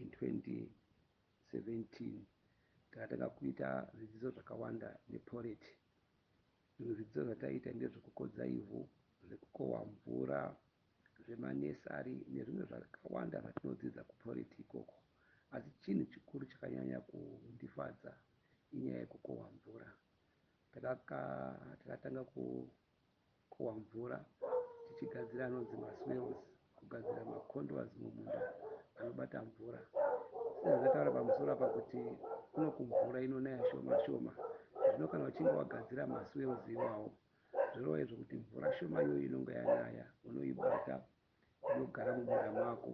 In 2017 takatanga kuita zvidzidzo zvakawanda neporeti. Zvimwe zvidzidzo zvataiita ndezvekukodza ivhu, zvekukohwa mvura, zvemanesari nezvimwe zvakawanda zvatinodzidza kuporeti ikoko asi chinhu chikuru chakanyanya kundifadza inyaya yekukohwa mvura. Takatanga ku Kukohwa mvura tichigadzira anonzi maswales, kugadzira maconduas mumunda anobata mvura. Sezvatataura pamusoro apa kuti kunoku mvura inonaya shoma shoma, zvino kana uchinge wagadzira maswales iwawo zvorova izvo kuti mvura shoma iyoyo inonga yanaya unoibata inogara mumunda mako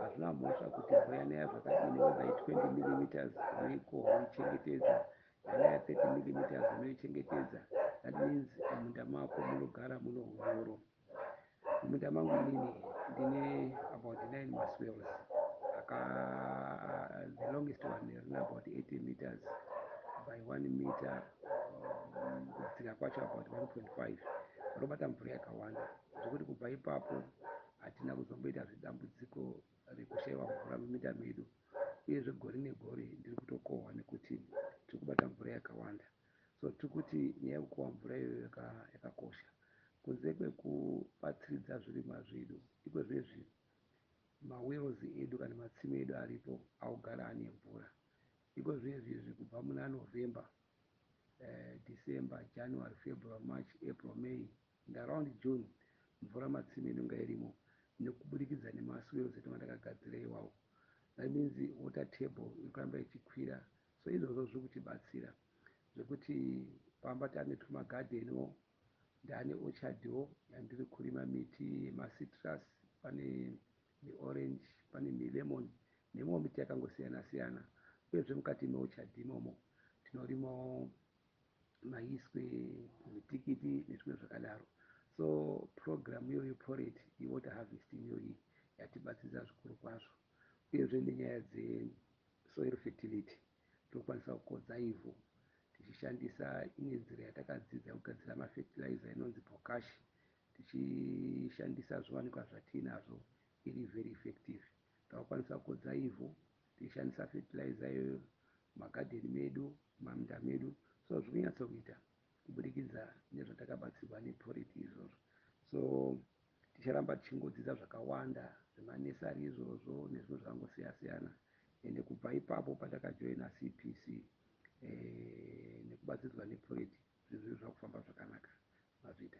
hazvina mhosva kuti mvura yanaya zvakadini whether i 20 millimeters unoikohwa woichengetedza yanaya 30 millimeters unoichengetedza that means mumunda mako munogara muno unyoro mumunda mangu inini ndine about 9 maswells aka the longest one rina about 80 meters by 1 meter um, kudzika kwacho about 1.5 rinobata mvura yakawanda zvekuti kubva ipapo hatina kuzomboita zvedambudziko rekushaiwa mvura muminda medu uyezve gore negore ndiri kutokohwa nekuti tiri kubata mvura yakawanda so tiri kuti nyaya yekukohwa mvura iyoyo yakakosha kunze kwekubatsiridza zvirimwa zvedu iko zvezvi mawells edu kana matsime edu aripo augara ane mvura iko zvezvi izvi kubva muna november eh, december january february march april may And around June mvura matsime inonga irimo nekubudikidza nema swales etinonga takagadzira iwawo that means water table iri kuramba ichikwira so izvozvo zviri kutibatsira zvekuti pamba tane tuma garden wo ndane orchard wo yandiri kurima miti yema citrus pane miorange pane milemon nemimwe miti yakangosiyana siyana uyezve mukati meorchard imomo tinorimawo maiswe mitikiti nezvimwe zvakadaro so program iyoyo poret yewater harvesting iyoyi yatibatsiridza zvikuru kwazvo uyezve nenyaya dzesoil fertility tinokwanisa kukodza ivhu tichishandisa imwe nzira yatakadzidza kugadzira mafertilizer inonzi bokash tichishandisa zviwanikwa zvatiinazvo iri very effective takakwanisa kukodza ivhu Tichishandisa fertilizer iyoyo mumagadheni medu, mumaminda medu so zviri kunyatso kuita kubudikidza nezvatakabatsirwa nePoret izvozvo. So ticharamba tichingodzidza zvakawanda zvemanursery izvozvo nezvimwe zvakangoseya seyana ende kubva ipapo patakajoina CPC nekubatsiridzwa nePoret zvinhu zvinhu zvakufamba zvakanaka mazvita.